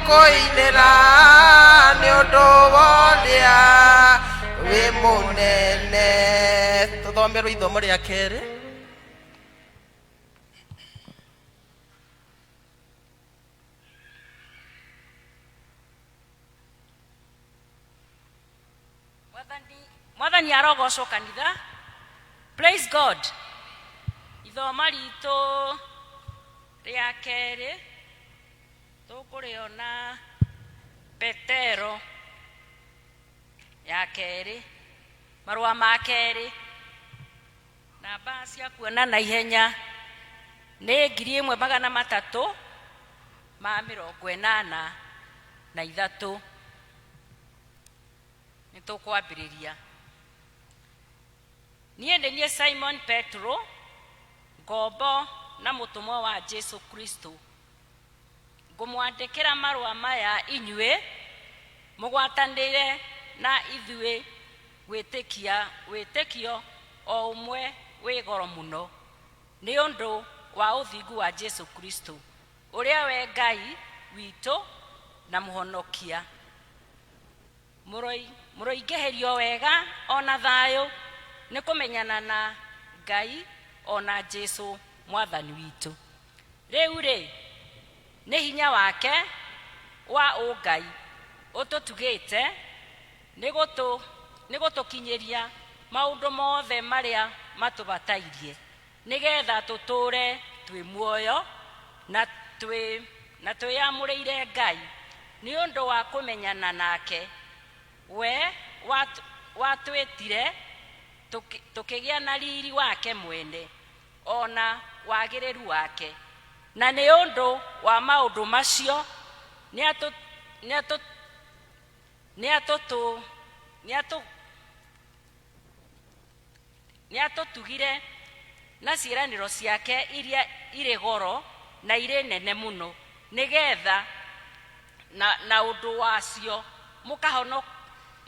kũinĩra nĩ ũndũ wa ũrĩa wĩ mũnene tũthomerwo ithomo rĩa kerĩ mwathani mwathani arogocwo kanitha praise god ithoma ritũ rĩa kerĩ tũkũrĩona Petero ya kerĩ marũa ma kerĩ na mbaa cia kuona na ihenya nĩ ngiri ĩmwe magana matatũ ma mĩrongo ĩnana na ithatũ nĩ tũkwambĩrĩria niĩ nĩ niĩ simon petro ngombo na mũtũmwa wa jesu kristo Ngũmwandĩkĩra marũa maya inyuĩ mũgwatanĩre na ithuĩ gwĩtĩkia wĩtĩkio o ũmwe wĩ goro mũno nĩ ũndũ wa ũthingu wa Jesu Kristo, ũrĩa we Ngai witũ na mũhonokia. Mũroingĩhĩrio wega o na thayũ nĩ kũmenyana na Ngai o na Jesũ Mwathani witũ. Rĩu-rĩ, nĩ hinya wake wa ũngai ũtũtugĩte nĩ gũtũkinyĩria maũndũ mothe marĩa matũbatairie. nĩgeetha tũtũũre twĩ muoyo na twĩ na twĩyamũrĩire Ngai nĩ ũndũ wa kũmenyana nake. We watwĩtire tũkĩgĩa na riiri wake mwene, o na wagĩrĩru wake. Na nĩ ũndũ wa maũndũ macio nĩatũtũũgĩirie. Nĩ atũtugire na ciĩranĩro ciake iria irĩ goro na irĩ nene mũno, nĩ getha na, na ũndũ wacio mũkahono,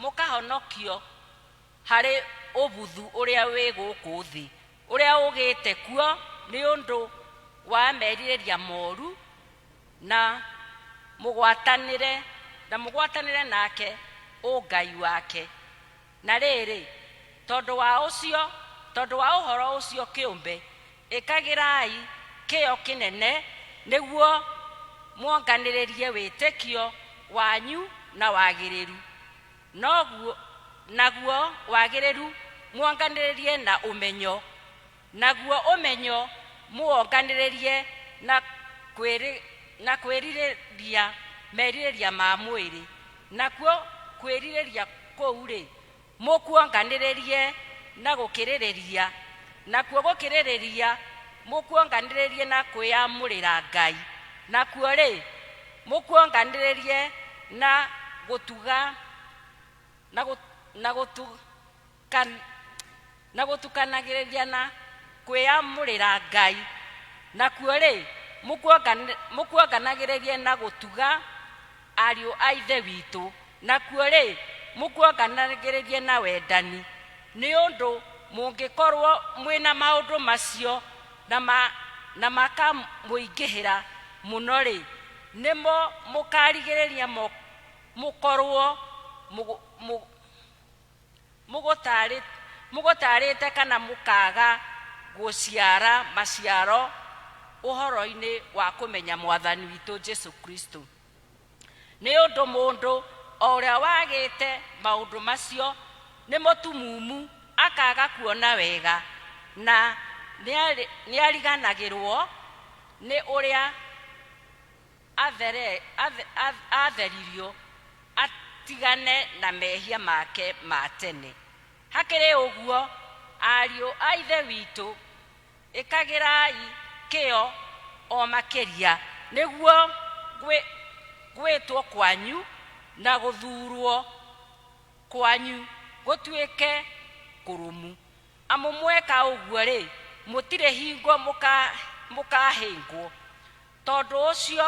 mũkahonokio harĩ ũbuthu ũrĩa wĩ gũkũ thĩ ũrĩa ũgĩte kuo nĩ ũndũ wa merirĩria moru na mũgwatanĩre na mũgwatanĩre nake ũngai wake. Na rĩrĩ, tondũ wa ũcio, tondũ wa ũhoro ũcio kĩũmbe, ĩkagĩrai kĩyo kĩnene nĩguo muonganĩrĩrie wĩtĩkio wanyu na wagĩrĩru, noguo, naguo wagĩrĩru muonganĩrĩrie na ũmenyo, Naguo ũmenyo mũwonganĩrĩrie na kwĩrirĩria merirĩria ma mwĩrĩ, nakuo kwĩrirĩria kũu-rĩ, mũkuonganĩrĩrie na gũkĩrĩrĩria, nakuo gũkĩrĩrĩria mũkuonganĩrĩrie na kwĩyamũrĩra Ngai, nakuo-rĩ, mũkuonganĩrĩrie na gũtuga kan, na gũtukanagĩrĩria na kwĩyamũrĩra Ngai, nakuo-rĩ, mũkuongan, mũkuonganagĩrĩrie na gũtuga ariũ a Ithe witũ, nakuo-rĩ, mũkuonganagĩrĩrie na wendani, nĩ ũndũ mũngĩkorwo mwĩna maũndũ macio na, ma, na makamũingĩhĩra mũno-rĩ, nĩmo mũkarigĩrĩria mo, mũkorwo mũgũ, mũgũ, Mũgũtaarĩ- Mũgũtaarĩte kana mũkaaga gũciara maciaro ũhoroinĩ wa kũmenya Mwathani witũ Jesu Kristo. Nĩ ũndũ mũndũ o ũrĩa wagĩte maũndũ macio nĩ mũtumumu akaaga kuona wega na nĩari- nĩariganagĩrwo nĩ ũrĩa athere, athe, ath- atheririo atigane na mehia make ma tene. Hakĩrĩ ũguo, ariũ a Ithe witũ, ĩkagĩrai kĩyo o makĩria nĩguo gwĩ- gwĩtwo kwanyu na gũthuurwo kwanyu gũtuĩke kũrũmu. Amu mweka ũguo-rĩ, mũtirĩ hingo mũka- mũkahĩngwo. Tondũ ũcio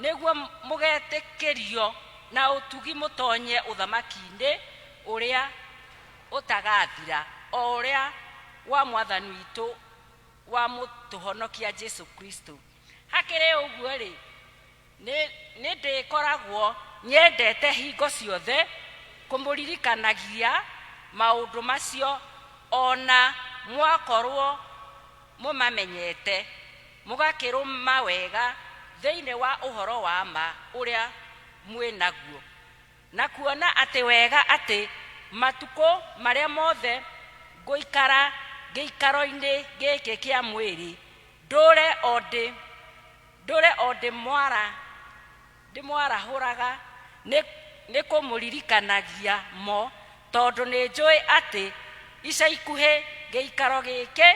nĩguo mũgetĩkĩrio na ũtugi mũtonye ũthamaki-inĩ ũrĩa ũtagathira, o ũrĩa wa Mwathani witũ wa Mũtũhonokia Jesu Kristo. Hakĩrĩ ũguo-rĩ, nĩ ndĩkoragwo nyendete hingo ciothe kũmũririkanagia maũndũ macio, o na mwakorwo mũmamenyete, mũgakĩrũma wega thĩinĩ wa ũhoro wa ma ũrĩa mwĩ naguo, na kuona atĩ wega atĩ matukũ marĩa mothe ngũikara gĩikaro-inĩ gĩkĩ kĩa mwĩrĩ, ndũũre o ndĩ mwara Ndĩmwarahũraga nĩ nĩ kũmũririkanagia mo, tondũ nĩ njũĩ atĩ ica ikuhĩ gĩikaro gĩkĩ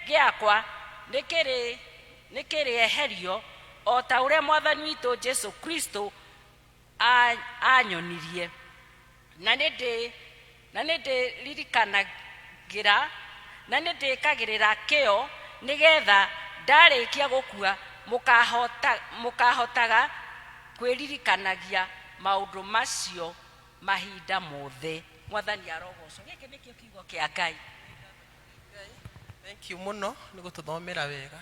gĩakwa nĩ kĩrĩ nĩ kĩrĩeherio, o ta ũrĩa Mwathani witũ Jesu Kristo aanyonirie. Na nĩ ndĩ, na nĩ ndĩririkanagĩra, na nĩ ndĩkagĩrĩra kĩyo, nĩ getha ndarĩkia gũkua mũkahota, mũkahotaga kwĩririkanagia maũndũ macio mahinda mothe. Mwathani arogoocwo. Gĩkĩ nĩkĩo kiugo kĩa Ngai. Thank you mũno nĩ gũtũthomera wega.